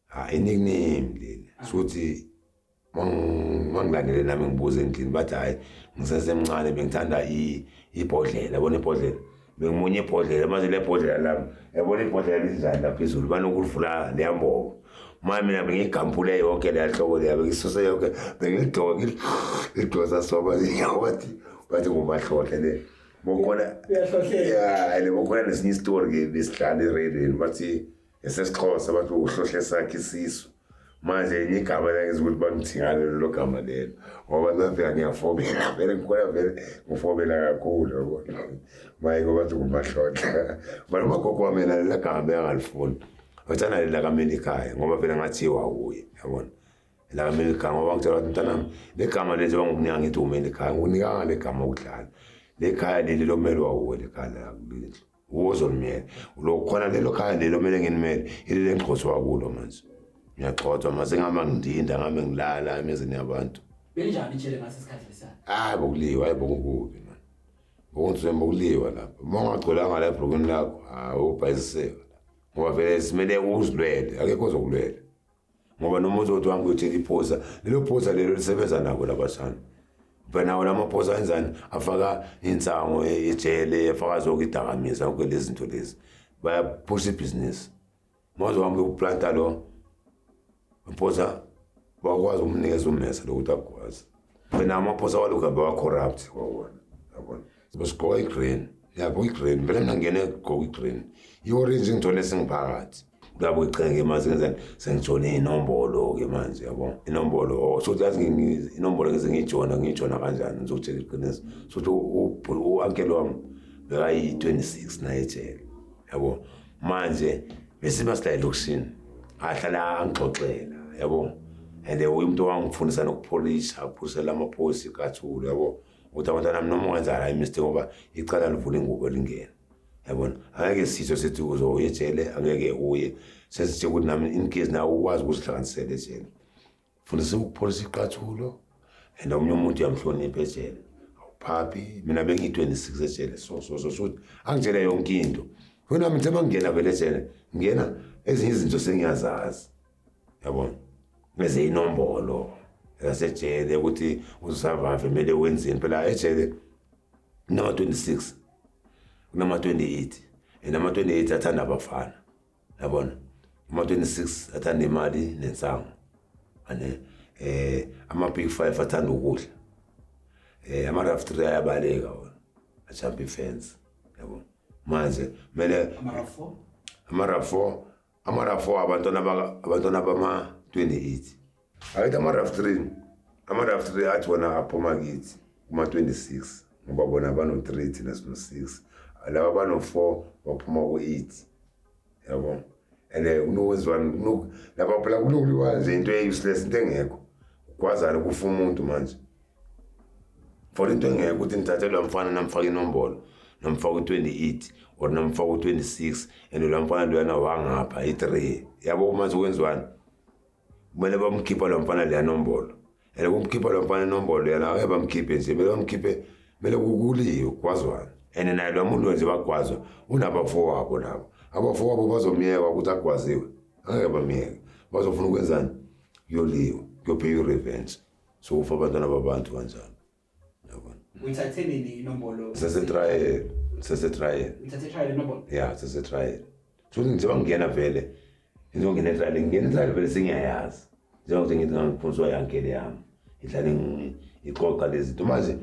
ha inikname leli sokuthi mangilandele nami ngibuze endlini bathi hhayi ngisesemncane bengithanda ibhodlela yabona ibhodlela bengimunye ibhodlela manje le bhodlela lami yabona ibhodlela linjani laphezulu banokulivula leyambobo manje mina bengiyigampule yonke leya hloko leya bengisuse yonke bengilidoke ngilidosa soba yawathi bathi ngumahlohle le bokhona uyahlohlele bokhona nesinye isitori ke besidlala eradweni bathi esesixhosa bathi ukuhlohle sakhe isisu manje enye igama lakenza ukuthi bangithingane lelo gama lelo ngoba ngafika ngiyafobela vele ngikhona vele ngifobela kakhulu yabo maye ngoba thi ngumahlohle bana umagogo wami yena lela gama beyangalifuni wathana lela kamelikayo ngoba vele ngathiwa wuye yabona la ngamele igama bangitshela ukuthi mntanami le gama lenze bangokunika ngithi ume le khaya ngokunikanga le gama ukudlala le khaya leli lomelwa wuwe le khaya la kulendlu wozonimele lo khona lelo khaya lelo mele nginimele ilile ngixhothwa wakulo manje ngiyagxothwa mase ngihamba ngidinda ngihambe ngilala emizini yabantu benjani itshele ngaso isikhathi lesana hayi bokuliwa hayi bokukubi man bokunzima bokuliwa lapho uma ungagcolanga la ebhrukini lakho hayi ubhayisiseka ngoba vele simele uzilwele akekho ozokulwela ngoba noma uzothi wami ukuthi iphosa lelo phosa lelo lisebenza nako labashana banawo lamaphosa enzani afaka insango ejele afaka zonke idakamisa konke lezi zinto lezi bayaphusha ibhizinisi maze wami uplanta lo mphosa bakwazi ukumnikeza ummesa lokuthi akwazi wena amaphosa walokhu abe wa-corrupt wawona yabona sigqoka i-green yabo i-green vele mina ngene gqoka i-green i-orange ngithole singiphakathi ngabo icheke manje ngenzani sengijone inombolo ke manje yabo inombolo oh, so yazi inombolo ngeze ngijona ngijona kanjani ngizokutshela iqiniso so u-uncle wami bekayi-26 naye ejele yabo manje bese masila elokishini ahlala angixoxela yabo and umuntu owangifundisa nokupholisha uphusela amaphoyisa ikathulu yabo ukuthi abantwana mi noma ungenza la imistake ngoba icala livula ingubo lingena yabona angeke sitho sithi uzoya ejele angeke uye sesithe ukuthi nami in case nawe ukwazi ukuzihlanganisela ejele fundisa ukupholisa iqathulo and omunye umuntu uyamhlonipha ejele awuphaphi mina bengiyi-26 ejele so so so so angitshele yonke into wena ngithe mangingena vele ejele ngingena ezinye izinto sengiyazazi yabona bese inombolo yasejele ukuthi uzavave kumele wenzeni phela ejele kunama-26 kunama-28 and ama-28 athanda abafana yabona ama-26 athanda imali nensango ane eh ama-big five athanda ukudla eh ama-rough three ayabaleka wona ajump ifence yabona manje kumele ama-rough four ama-rough four abantwana abantwana bama-28 Ayithi ama-raftrin ama-raftrin athi wona aphuma kithi kuma-26 ngoba bona bano-3 thina sino-6 laba bano-4 baphuma ku-8 yabo and eh, kunokwenziwani laba phela kunokuliwa nje into e-useless into engekho kwazana kufa umuntu manje for into engeke ukuthi ngithathe lo mfana namfaka inombolo namfaka u-28 or namfaka u-26 and lo mfana loyana wangapha i-3 yabo manje kwenziwani kumele bamkhipha lo mfana leya nombolo and kumkhipha lo mfana inombolo yena abe bamkhiphe nje kumele bamkhiphe kumele kukuliwe kwazwana and naye lo muntu wenze bagwazwa unabafowabo nabo abafowabo bazomyeka ukuthi agwaziwe angeke bamyeke bazofuna ukwenzani yoliwe kuyopheya i-revenge sokufa abantwana babantu kanjani yabona uyithathe nini inombolo sesetrial sesetrial uyithathe trial inombolo ya sesetrial futhi njengoba ngingena vele njengoba ngingena etrial ngingena etrial vele sengiyayazi njengokuthi ngithi ngangiphonswa yankele yami ngihlale ngi- ngixoxa lezi zinto manje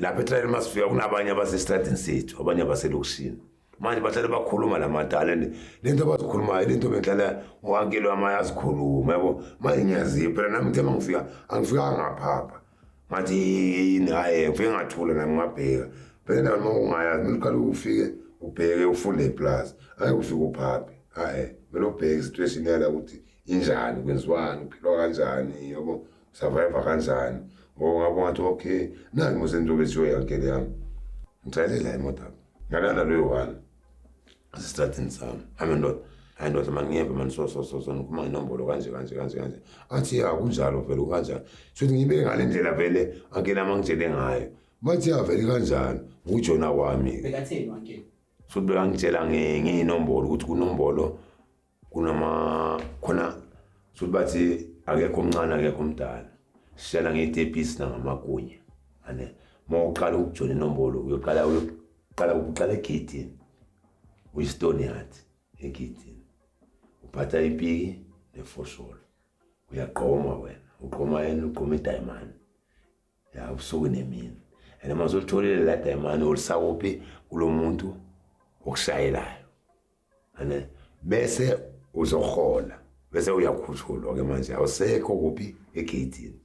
lapha etrial uma sifika kunabanye abasesitradini sethu abanye abaselokishini manje bahlale bakhuluma la madala and le nto abazikhulumayo le nto bengihlala uankele wami ayazikhuluma yabo manje ngiyazipha phela nami ngithe uma ngifika angifikanga ngaphapha ngathi yini hayi ngifike ngathula nami ngabheka phela nami ungayazi mina uqale ufike ubheke ufunde iplaza hayi ufike uphaphe hayi mina ubheke situation yala ukuthi injani kwenziwani uphilwa kanjani yabo survive kanjani ngoba ngabo ngathi okay nangi musentobe siyoyankele yami ngithalela imoto yami ngalanda loyo one asistradini sami hame ndoda hayi ndoda mani ngiyeva mani so so so so ngikhuluma ngenombolo kanje kanje kanje kanje athi ya kunjalo vele ukanjani shuthi ngiyibeke ngale ndlela vele ankeni ama ngitshele ngayo bathi ya vele kanjani ngujona wami-ke bekatheni wankeni shuthi bekangitshela ngiyinombolo ukuthi kunombolo kunama khona sokuthi bathi akekho omncane akekho omdala sishela ngetepisi nangamakunya ane uma uqala ukujona inombolo uyoqala uyoqala uqala egidini uyistone yathi egidini uphatha ipiki nefosholo uyaqoma wena uqoma yena uqoma idiamond ya ubusuku nemini and uma uzolitholile la dayimane olisakuphi kulo muntu okushayelayo ane bese uzohola bese uyakhushulwa ke manje awusekho kuphi egeyitini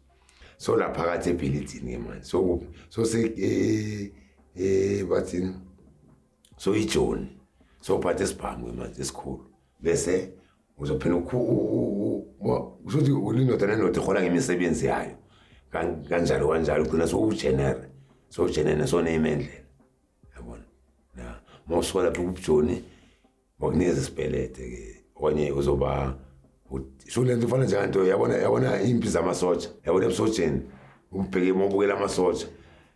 so la phakathi ebhilidini ke manje so kuphi so se eh, eh bathini so ijoni so phathe isibhamu ke manje esikhulu bese uzophela kusho ukuthi ulindoda nendoda ihola ngemisebenzi yayo kanjalo kanjalo ugcina sowujenere sowujenene soneyima endlela yabona na uma usuka lapho kubujoni bakunikeza isibelede-ke okanye uzoba sho le nto ifana njenganto yabona yabona impi zamasotsha yabona ebusotsheni ubheke uma ubukela amasotsha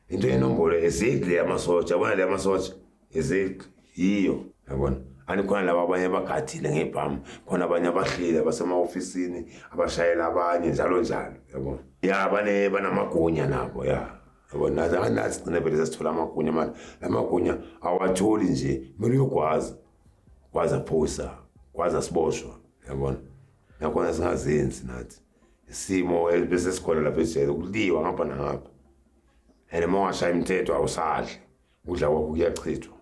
into yenombolo ezidli yamasotsha yabona le yamasotsha is it yiyo yabona anikhona laba abanye abagadile ngebhamu khona abanye abahleli abasema-ofisini abashayela abanye njalo njalo yabona ya bane banamagunya nabo ya yabona nazi gcine vele sasithola amagunya mani la magunya awatholi nje kumele uyogwaza kwaza phosa kwaza siboshwa yabona nakhona singazenzi nathi isimo bese sikhona lapha ejele kuliwa ngapha nangapha and uma ungashaya imithetho awusadli Udla kwakho kuyachithwa.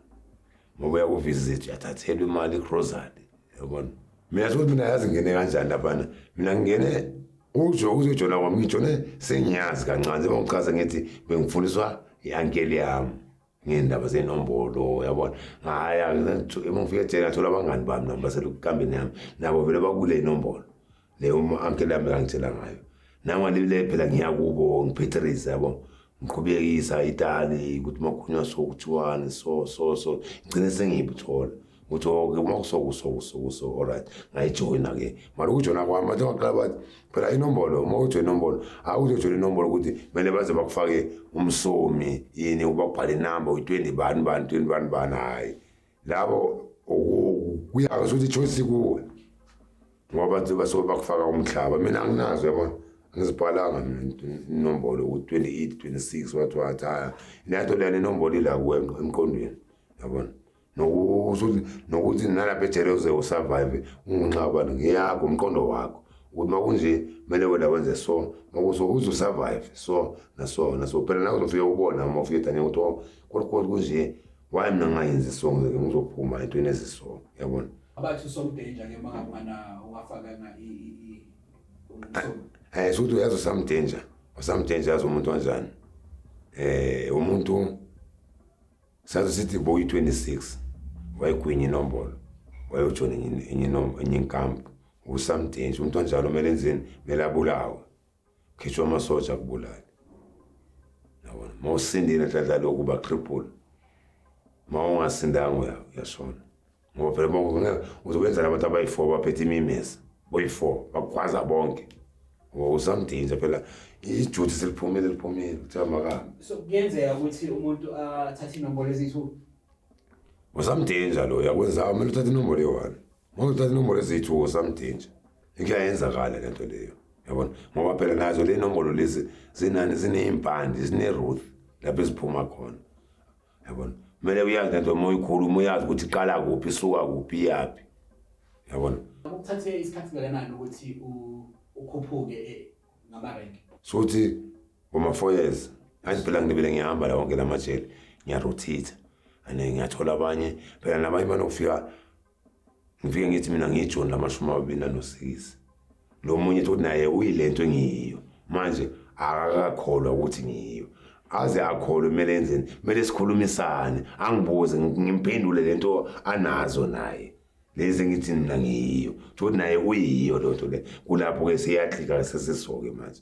Ngoba uyakuvisit uyathathelwa imali igrocery. Yabona? Mina sokuthi mina yazi ngene kanjani laphana. Mina ngingene ujo uzojona kwami ngijone sengiyazi kancane njengoba ngichaze ngithi bengifundiswa i-ankeli yami ngey'ndaba zey'nombolo yabona ngaya uma ngifika ejele ngathola abangani bami nabo baselukukambeni yami nabo vele bakule inombolo le uma ankele yami kangitshela ngayo nangalibile phela ngiya kubo ngiphetherisa yabo ngiqhubekisa itali ukuthi makhunywa so kuthiwani so so so ngigcine sengiyibuthola ukuthi oke oh, uma kusokusokusokuso allright ngayijoyina ke mara ukujoyina kwami bathe baqala bathi phela inombolo uma ujoyina inombolo hayi uzojoyina inombolo ukuthi kumele baze bakufake umsomi yini uba kubhale inamba uyi-twenty bani bani twenty bani bani hhayi labo kuyazi ukuthi ichoice kuwe ngoba nje basuke bakufaka umhlaba mina anginazo yabona angizibhalanga inombolo ku-28 26 wathi wathi haya lento lena inombolo ila kuwe emqondweni yabona nokuthi nalapha ejele uze usurvive ungunxabani ngiyakho umqondo wakho ukuthi makunje kumele wena wenze so makuso uze usurvive so naso naso phela nawe uzofike ubona uma ufike danye ukuthi oh, kodwa kodwa kunje why mina ngingayenzi isongo ke ngizophuma entweni ezisongo yabona abathi usomdanger ke maka mwana ungafakanga i i eh suthi uyazi usamdanger usamdanger yazi umuntu kanjani eh umuntu sathi sithi boy 26 wayigwinye inombolo wayojona enye enye enye inkampu usamdanger umuntu kanjalo kumele enzeni kumele abulawe khishwa amasotsha akubulali yabona uma usindile nhlanhla lokhu batriple uma ungasindanga uyashona ngoba phela bonke uzokwenzela abantu abayi-four baphethe imimesa boyi-four bakukhwaza bonke ngoba usamdinja phela ijuthi seliphumile liphumile kuthiwa makahambe so kuyenzeka ukuthi umuntu athathe inombolo eziyi-two usamdinja loyo akwenzayo kumele uthathe inombolo eyi-one Ngoba uthatha inombolo eziyithuko samdinja. Ikuyayenzakala le nto leyo. Yabona? Ngoba phela nazo le nombolo lezi zinani zinezimpande, zineruth lapho eziphuma khona. Yabona? Kumele uyazi le nto uma uyikhuluma uyazi ukuthi iqala kuphi, isuka kuphi, iyaphi. Yabona? Ukuthathe isikhathi kangakanani ukuthi ukhuphuke eh, ngamarenke? Sothi ngoma 4 years. Ngathi phela ngibele ngihamba la wonke lamajele, ngiyarothitha. Ane ngiyathola abanye, phela nabanye banokufika ngifike ngithi mina ngiyijoni lamashumi amabili nanosikisi lo munye ukuthi naye uyile nto engiyiyo manje akakakholwa ukuthi ngiyiyo aze akholwe kumele enzeni kumele sikhulumisane angibuze ngimphendule le nto anazo naye lezi engithi mina ngiyiyo ukuthi naye uyiyo loo nto le kulapho-ke siyahlika sesisoke manje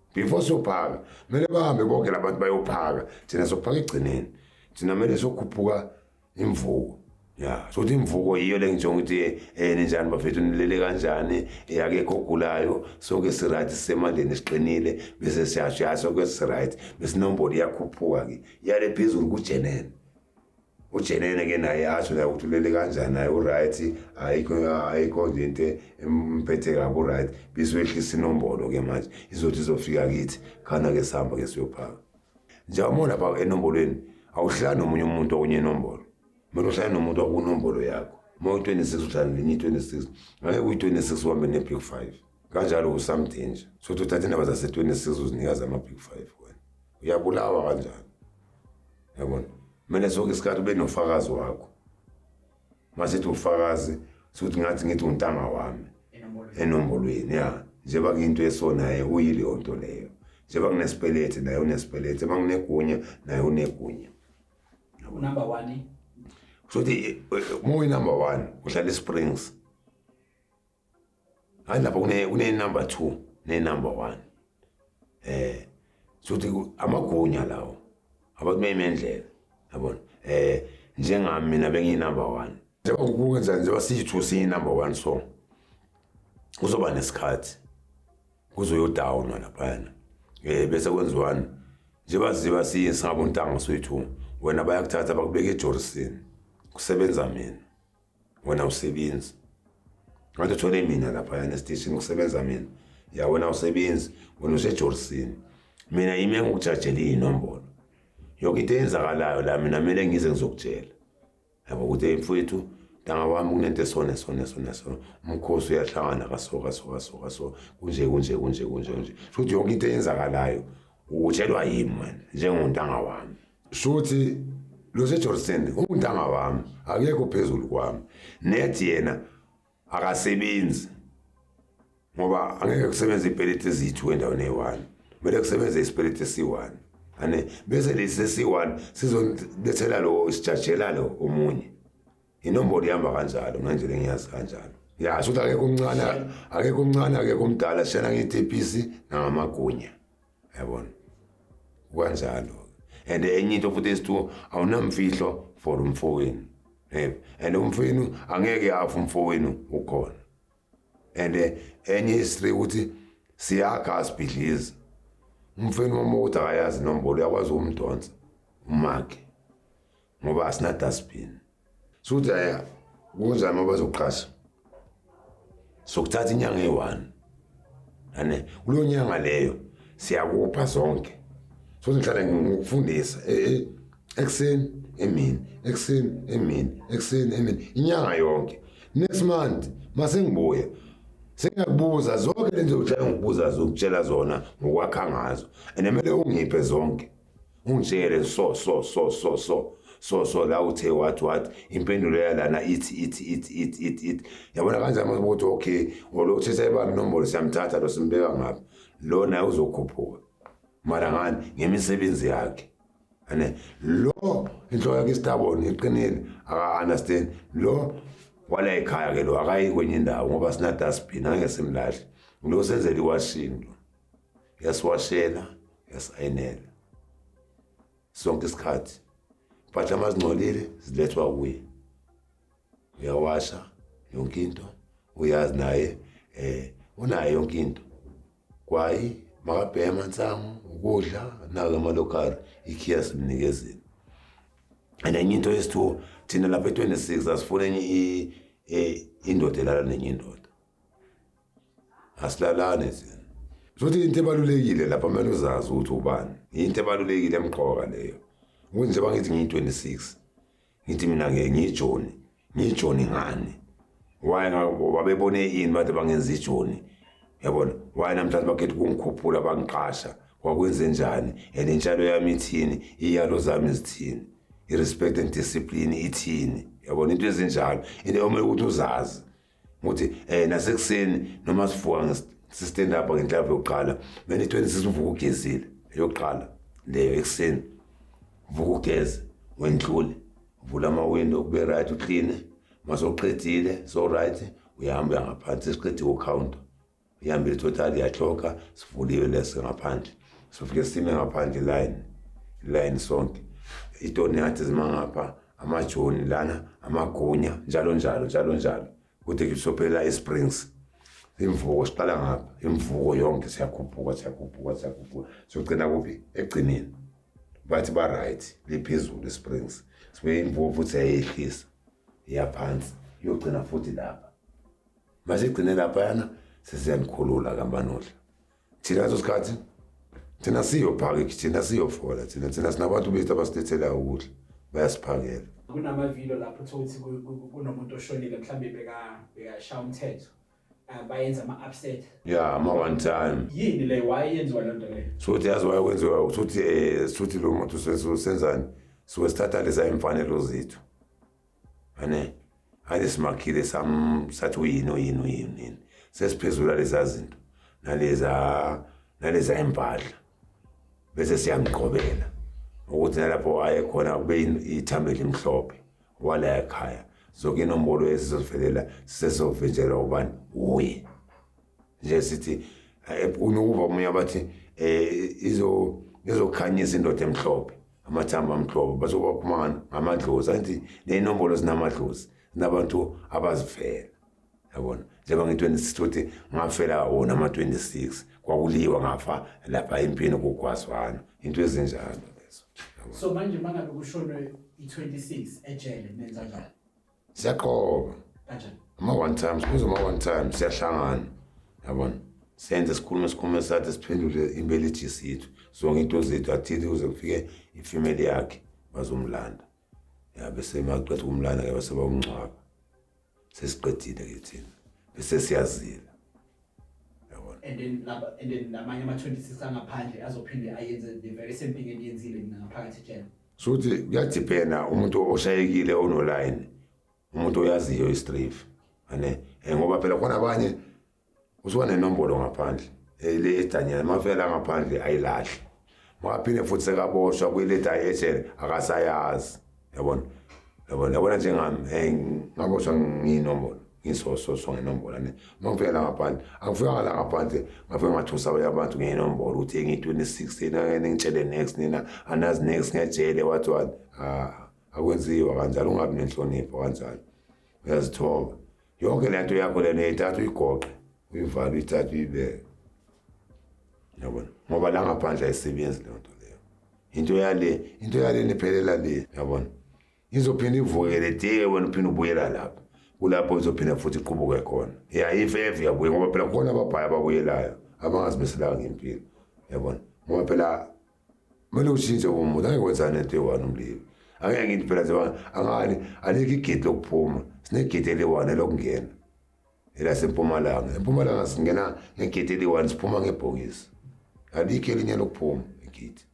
before siyophaka kumele bahambe bonke labantu bayophaka thina sophaka egcineni thina kumele sokhuphuka imvuko ya sokuthi imvuko yiyo le ngisho ukuthi um eh, ninjani bafethu nilele kanjani eh, akekho ogulayo sonke siright sisemandleni siqinile bese siyasho ya sonke siright besinombolo iyakhuphuka-ke yale phezulu kujenene ujenene ke naye asho naye ukuthi ulele kanjani naye uright ayikho ayikho nje into emphethe kabi uright bizoyehlisa inombolo ke manje izothi izofika kithi khana ke sihamba ke siyophaka njengoba lapha enombolweni awuhlala nomunye umuntu okunye inombolo kumele uhlale nomuntu wakunombolo yakho uma uyi-26 uhlala nenye i-26 ngeke uyi-26 uhambe ne-big five kanjalo usamdanger sothi uthatha indaba zase-26 uzinika zama-big five wena uyabulawa kanjani yabona kumele sonke isikhathi ube nofakazi wakho masethi ufakazi sokuthi ngathi ngithi untanga wami enombolweni ya njengoba kuyinto esonaye uyileyo nto leyo njengoba kunesipelete naye unesipelete uma kunegunya naye unegunya unumber one sokuthi uma uyinumber one uhlala esprings Hayi lapha kune kune number 2 ne number 1. Eh sothi amagunya lawo abantu beyimendlela yabona eh njengami mina bengiyi number 1 njengoba kubuka njani njengoba siyithu siyi number 1 so kuzoba nesikhathi kuzoyodownwa laphayana eh bese kwenziwani njengoba ziba siye singabo ntanga soyithu wena bayakuthatha bakubeke ejorisini kusebenza mina wena usebenzi ngathi uthole mina laphayana esiteshini kusebenza mina ya wena usebenzi wena usejorisini mina yimi engikujajele iy'nombolo yoke into eyenzakalayo la mina kumele ngize ngizokutshela yabo ukuthi mfowethu ntanga wami kunento esone sone sone sone umkhosi uyahlangana kaso kaso kaso kaso kunje kunje kunje kunje kunje futhi yonke into eyenzakalayo utshelwa yimi wena njengontanga wami shuthi lo seJordan untanga wami akekho phezulu kwami nethi yena akasebenzi ngoba angeke kusebenze ipeleti ezithu endaweni eyi-one kumele kusebenze isipeleti esi-one ane bese lesi esi-one sizobethela lo sijajela lo omunye inombolo ihamba kanjalo mna nje lengiyazi kanjalo ya shuthi akekho omncane akekho omncane akekho omdala shana ngiyitepisi nangamagunya yabona kwanjalo and enye into futhi esithiwo awunamfihlo for umfowenu yebo and umfowenu angeke afu umfowenu ukhona and eh, enye history ukuthi siyakha asibhidlizi umfowenu wami ukuthi akayazi inombolo uyakwazi ukumdonsa umakhe ngoba asina dustbin suthi aya kunjani uma bazoqasha sokuthatha inyanga eyi-one ane kuleyo nyanga leyo siyakupha zonke so ngihlale ngikufundisa e, e, ekuseni emini ekuseni emini ekuseni emini inyanga yonke next month masengibuya sengiyakubuza zonke lento yokushaya ngikubuza zokutshela zona ngokwakha ngazo and kumele ungiphe zonke Unjele so so so so so so so la uthe what what impendulo yalana ithi ithi ithi ithi ithi ithi yabona kanjani mase ukuthi okay ngolokuthe sayibamba inombolo siyamthatha lo simbeka ngapha lo naye uzokhuphuka mara ngani ngemisebenzi yakhe ane lo inhloko yakhe istabon iqinile aka-understand lo wala ekhaya ke lo akayi kwenye indawo ngoba sina-dustbin angeke simlahle lo senzela iwashini lo yasiwashela yasayinela sonke isikhathi impahla mazingcolile zilethwa kuye uyawasha yonke into uyazi naye eh unayo yonke into kwayi makabhema insangu ukudla nake amalokari ikhiya simnikezile and enye into yesithu thina lapha e-26 asifune enye indoda elala nenye indoda asilalane thina futhi into ebalulekile lapha kumele uzazi ukuthi ubani yinto ebalulekile emqoka leyo ukuthi njengoba ngithi ngiyi-26 ngithi mina-ke ngiyijoni ngiyijoni ngani why babebone ini bathi bangenza ijoni yabona why namhlanje bakhetha ukungikhuphula bangiqasha kwakwenze njani and intshalo yami ithini iyalo zami zithini i-respect and discipline ithini yabona into ezinjalo into omele ukuthi uzazi ukuthi eh nasekuseni noma sivuka ngistand up ngenhlava yokuqala mina 26 uvuka ugezile yokuqala leyo ekuseni vuka ugeze wendlule vula ama window kube right uclean masoqedile so right uyahamba uyangaphansi siqedile ucounter ihambile total yaxoka sivuliwe lese ngaphandle sifike sime ngaphandle line line sonke itoni yathi zimangapha amajoni lana amagunya njalo njalo njalo njalo kude kusophela isprings imvuko siqala ngapha imvuko yonke siyakhuphuka siyakhuphuka siyakhuphuka sogcina kuphi egcineni bathi ba-right liphezulu isprings sibe imvuko futhi yayehlisa iyaphansi iyogcina futhi lapha masigcine laphayana sesiyanikhulula kamanohla thina leso sikhathi thina siyophakeki thina siyofola thina thina sinabantu bethu abasilethelayo ukudla bayasiphakela kunamavilo lapho thothi kunomuntu oshonile mhlawumbe beka bekashaya umthetho ah, bayenza ama upset yeah ama one time yini le why yenziwa le nto le sothi yazi why kwenziwa ukuthi eh sothi lo muntu senzani so sithatha lesa imfanelo zethu ane ake simakhile sam sathi uyini uyini uyini yini sesiphezula leza zinto naleza naleza impahla bese siyangiqhobela ukuthi nalapho waye khona kube ithambo elimhlophe wala ekhaya zonke inombolo esizovelela sisezovinjelwa ubani wuye nje sithi eh, unokuva omunye abathi um izokhanyisa indoda emhlophe amathambo amhlophe bazobakhumana ngamadlozi angithi ney'nombolo zinamadlozi zinabantu abazifela yabona njengoba ngi-26 ukuthi ngafela wona ama-26 kwakuliwa ngafa lapha empini kugwazwana into ezinjalo lezo so manje uma ngabe kushonwe i-26 ejele nenza njani siyaqoba kanjani ama one times kuze ama one times siyahlangana yabona senze sikhulume sikhulume sathi siphendule imbeleji yethu zonke into zethu athile kuze kufike ifamily yakhe bazomlanda ya bese maqeda ukumlanda ke base bawungcwaba sesiqedile ke thina bese siyazile and then laba and then namanye ama 26 angaphandle azophinde ayenze the very same thing engiyenzile mina ngaphakathi ejele Shuthi kuyadiphenda umuntu oshayekile onoline umuntu oyaziyo istrif ane eh, ngoba phela khona abanye usuka nenombolo ngaphandle eh, le edanyana mafela ngaphandle ayilahle maphinde futhi sekaboshwa kwiletha eshele akasayazi yabona yabona yabona njengami hey ngaboshwa nginombolo ngisososwa ngenombolo ne uma ngifika la ngaphandle angifikanga la ngaphandle ngafika ngathusa abanye abantu ngenombolo ukuthi engiyi-26 yena ningitshele next nina anazi next ngejele wathi wani ah, akwenziwa kanjalo ungabi nenhlonipho kanjalo uyazithoba yonke le nto yakho lena uyithatha uyigoqe uyivale uyithatha uyibeke yabona ngoba la ngaphandle ayisebenzi leyo nto leyo into yale into yale niphelela le yabona izophinde ivukele te wena uphinde ubuyela lapho kulapho izophinde futhi iqubuke khona ya if ever yabuye ngoba phela khona ababhaya ababuyelayo abangazimiselayo ngempilo yabona ngoba phela kumele ushintshe umuntu angeke wenzane into eyi-one umlilo angeke ngithi phela zebanga angani alikho igedi lokuphuma sinegedi eliyi-one elokungena elasempumalanga empumalanga singena ngegeti eliyi-one siphuma ngebhokisi alikho elinye lokuphuma igeti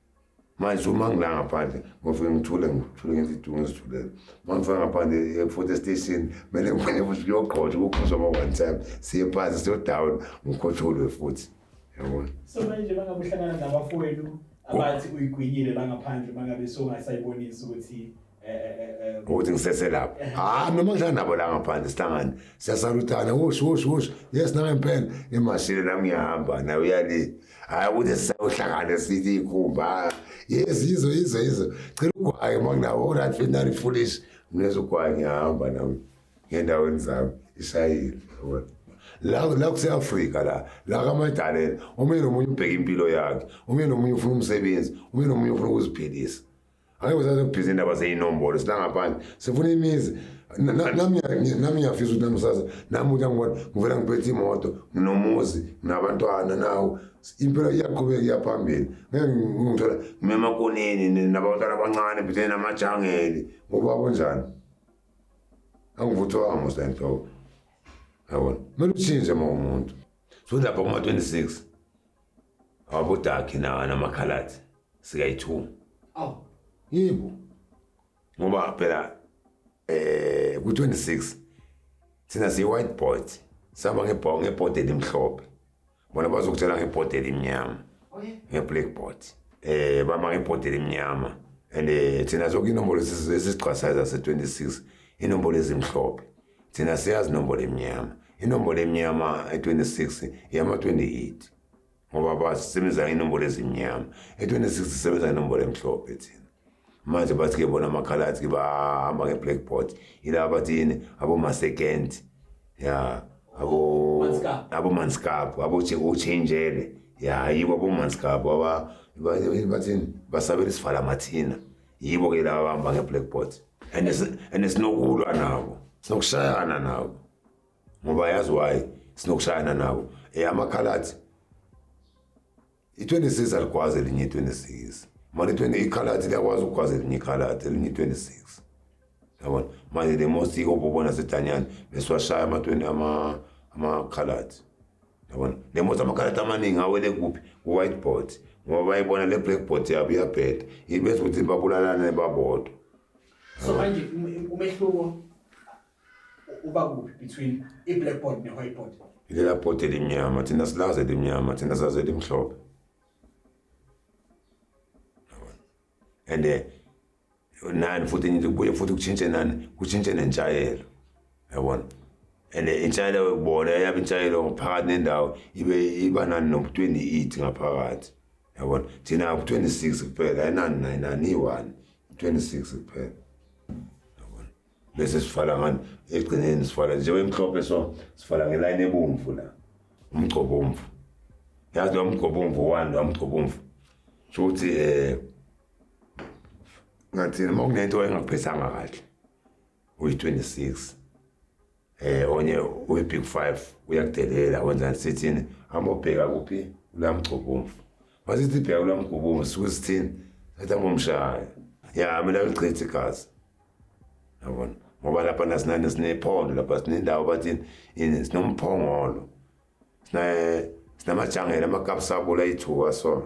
manje uma ngila ngaphandle ngofike ngithule ngithule ngezidungu ngizithulele uma ngifika ngaphandle e-foto station kumele ngifane futhi kuyogqotshwa kukhuzwa ma one time siye phansi siyodown ngikhotsholwe futhi yabona so manje bangabe uhlangana nabafowenu abathi uyigwinyile la ngaphandle bangabe songasayibonisi ukuthi ukuthi ngisese lapho hayi noma ngihlala nabo la ngaphandle sihlangane siyasaluthana wosh wosh wosh yes nangempela emashini nami ngiyahamba naye uyali hayi ukuthi sisayohlangane sithi ikhumba yes yizo yizo yizo cela ugwaye uma kunawo orange finali foolish mina zogwaye ngiyahamba nami ngendaweni zami ishayile la la kuseAfrika la la kaMadalela omunye nomunye ubheka impilo yakhe omunye nomunye ufuna umsebenzi omunye nomunye ufuna ukuziphilisa Angeke usaze kubhizi indaba zeyinombolo silangaphandle. Sifuna imizi. Na- na- Nami ngiya- nami ngiyafisa ukuthi nami usaze nami ukuthi angibona ngivela ngiphethe imoto nginomuzi nabantwana nawo impilo iyaqhubeka iyaphambili ngeke ngi- ngithola ngimemakoneni ni- nabantwana abancane phethene namajangeli ngoba kunjani angivuthwanga musa enhloko yabona kumele utshintshe ma umuntu so lapha kuma-26 awabodakhi na namakhalathi sikayithuma awu yebo ngoba phela eh ku26 thina siyi white board sihamba ngebhawu ngebhodi elimhlophe bona bazokutshela ngebhodi elimnyama nge-black board eh bama ngebhodi elimnyama and eh, thina zonke inombolo esizigqasayo zase-26 inombolo ezimhlophe Thina siyazi inombolo emnyama. Inombolo emnyama e-26 yama-28 ngoba basebenza inombolo ezimnyama. E-26 sisebenza inombolo emhlophe thina. Manje bathi-ke bona amakhalathi-ke bahamba nge-blackboard. Yilaba bathi yini abomasekenti. Ya abo abomanskapu abochenjele. Ya yibo abomanskapu bathini basabela isivala mathina. yibo ke laba bahamba nge-blackboard and si- and sinokulwa nabo sinokushayana nabo ngoba yazi why sinokushayana nabo um amakhalathi i-26 alikwazi elinye i-26 mali 20 ikhalathi liyakwazi ukukwazi elinye ikhalathi elinye i-26 yabona manje the most iko bobona sedanyana nesiwashaya ama-20 amakhaladi yabona le mothi amakhaladi amaningi awele kuphi ku-whiteboard ngoba bayibona le blackboard yabo iyabheda ibese ukuthi babulalane babodwa so manje um, umehluko uba kuphi between i-blackboard ne-whiteboard ilela board elimnyama thina silazi elimnyama thina sazi elimhlophe and eh, nani futhi ngithi kubuye futhi kutshintshe nani kutshintshe nentshayelo yabona and intshayelo bona yabe intshayelo ngaphakathi nendawo ibe iba nani nobu-28 ngaphakathi yabona thina ku-26 kuphela ayinani nayinani iyi-one ku-26 kuphela yabona bese sifala ngani ekugcineni sifala njengoba emhlophe so sifala ngelayini ebomvu la umgcobomvu yazi nomgcobomvu one nomgcobomvu sho ukuthi um eh, ngathini uma kunento engaphethanga kahle uyi-26 eh onye uyi-big five uyakudelela wenzani sithini amobheka kuphi ulamgcobomvu masithi bheka ulamgobomvu suke sithini sathi angomshaya ya mina ngichithe igazi yabona ngoba lapha nasinani sinephondo lapha sinendawo bathini ini sinomphongolo sinamajangela amakapsabula ithuka sona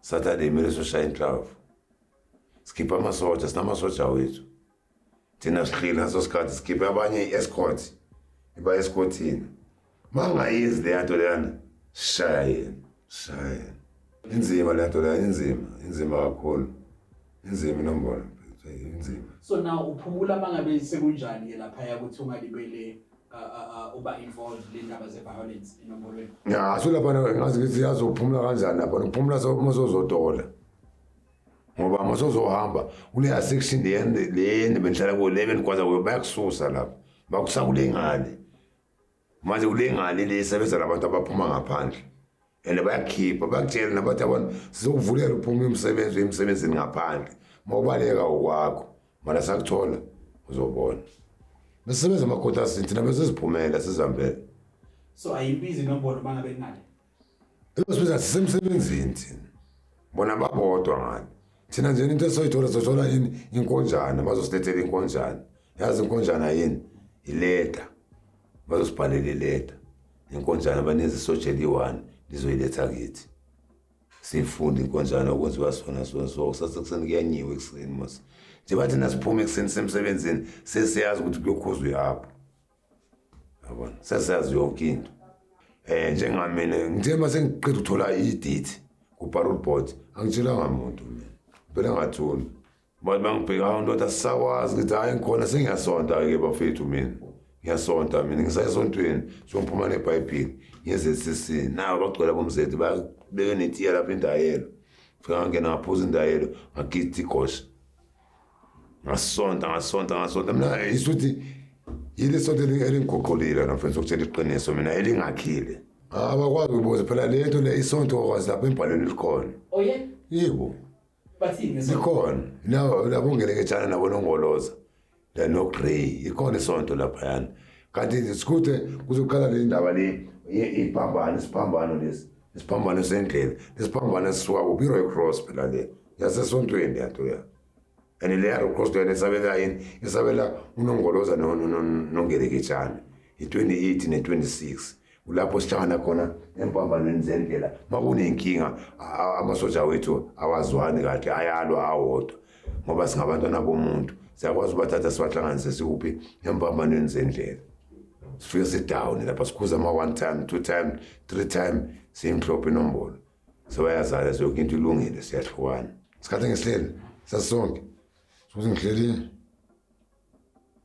Saturday kumele soshaya inhlavu sikhiphe amasoja sinamasoja wethu thina sihlile ngaso sikhathi sikhiphe abanye i-escort iba escortini uma ngayenzi leya nto leyana sishaya yena sishaya yena inzima leya nto leyana inzima inzima kakhulu inzima inombolo inzima so now uphumula uma ngabe sekunjani-ke laphaya ukuthi ungalibele uba involved le ndaba ze-violence enombolweni ya so lapha ngazi ngithi yazophumula kanjani lapha nokuphumula masozodola ngoba masozohamba kuleya section leyende bendihlala kuyo le bendigwaza kuyo bayakususa lapha bakusa kule ngane manje kule ngane le isebenza labantu abaphuma ngaphandle and bayakhipha bakutshela nabathi abantu sizokuvulela uphuma umsebenzi emsebenzini ngaphandle uma ubaleka ukwakho mara sakuthola uzobona besebenza amakhotasini thina beseziphumela sizihambele so ayibizi nombolo uma ngabe kunale sibiza sisemsebenzini thina bona babodwa ngani thina nje into esoyithola sothola yini inkonjana bazosilethela inkonjana yazi inkonjana yini ileta Bazosibhalela ileta nenkonjana banenze isotsha eliyi-one lizoyiletha kithi sifunde inkonjana okwenziwa sona sona so kusase kuseni kuyanyiwa ekuseni mos njengoba thina siphume ekuseni semsebenzini sesiyazi ukuthi kuyokhuzwa ihapho yabona sesiyazi yonke into um njengamina ngithe ma sengiqeda ukuthola idate kuparol board angitshelanga muntu mina phela ngathuni Bathi bangibheka hawu ndoda sisakwazi ngithi hhayi ngikhona sengiyasonta-ke bafethu mina ngiyasonta mina ngisayesontweni songiphuma nebhayibhili nge-zcc nayo bagcwela bomzeti babeke netiya lapho indayelo fika ngangena ngaphuza indayelo ngagida igosha ngasonta ngasonta ngasonta mina isho ukuthi yile sonto elingiguqulile na mfethu ukutshela iqiniso mina elingakhile abakwazi ukubuza phela le nto le isonto kwazi lapho embhalweni likhona oh, yebo bathini ngeso ikhona labo labo ngeleketshana nabo nongoloza la no grey ikhona isonto lapha yana kanti isikuthe kuzoqala le ndaba le iphambano isiphambano lesi isiphambano sendlela isiphambano sisuka kuphi iroy cross phela le yasesontweni yanto ya and leya roy cross leyona isabela yini isabela unongoloza nongeleketshana i-28 ne-26 kulapho sihlangana khona empambanweni zendlela makunenkinga amasoja wethu awazwani kahle ayalwa awodwa ngoba singabantwana bomuntu siyakwazi ubathatha sibahlanganise sikuphi empambanweni zendlela sifike sidown lapha sikhuza ama one time two time three time simhlophe inombolo sebayazala zonke into ilungile siyahlukana isikhathi ngesihleli sasisonke sokuthi ngihlelile